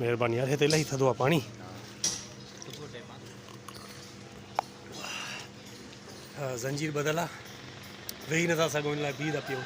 مهرباني يار هي ته الائي ٿڌو آ پاڻي. زنجير ٻڌل آ ويهي نٿا سگهون ان لاء بيهي ٿا پيئون.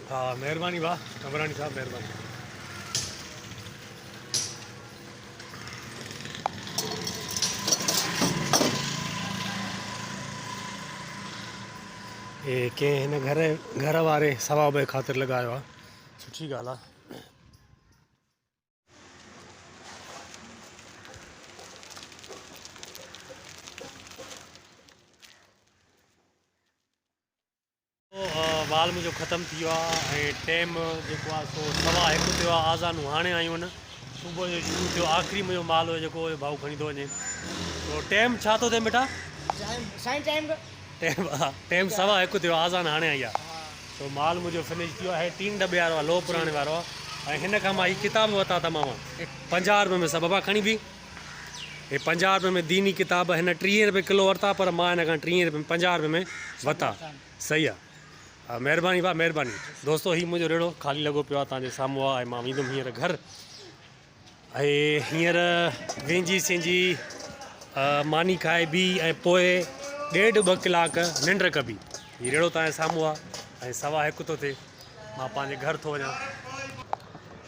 ها مهرباني واهه عمراڻي صاحب مهرباني. هي ڪنهن هن گهر گهر واري ثواب جي خاطر لڳايو آهي سٺي ڳالهه آهي وال منهنجو ختم ٿي ويو آ ۽ ٽيم جيڪو آ سو سوا هڪ ٿيو آ آذانون هاڻي آيون ان صبح جو شروع ٿيو آخري منهنجو مال هو جيڪو هو ڀائو کڻي ٿو وڃي تو ٽيم ڇا ٿو ٿئي بيٽا سائين ٽيم ٽيم ٽيم سوا هڪ ٿيو آ آذان هاڻي آئي آ تو مال منهنجو فنش ٿيو آهي ٽين ڊبي وارو هي پنجاهه روپين ۾ ديني ڪتاب هن ٽيهين روپين ڪلو ورتا پر مان هن کان ٽيهين روپين پنجاهه روپين ۾ وتا صحيح آ مهرباني ڀا مهرباني دوستو هي منهنجو ريڙهو خالي لڳو پيو آ تان جي سامهون آ ۽ مان ويندم هينئر گهر اي هينئر وينجي سينجي ماني کائي بي اي پوء ڏيڍ ٻه ڪلاڪ ننڊ ڪبي هي ريڙهو تان جي سامهون آ ۽ سوا هڪ ٿو ٿي مان پنهنجي گهر ٿو وڃان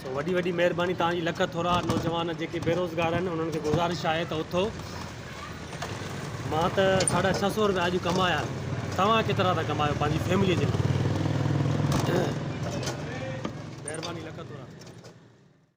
سو وڏي وڏي مهرباني توهان جي لک ٿورا نوجوان جيڪي بيروزگار آهن انهن کي گذارش آهي ته اٿو مان ته ساڍا ڇهه سو روپيا اڄ ڪمايا آهن توهان ڪيترا ٿا ڪمايو پنهنجي فيملي جي لاء مهرباني لک ٿورا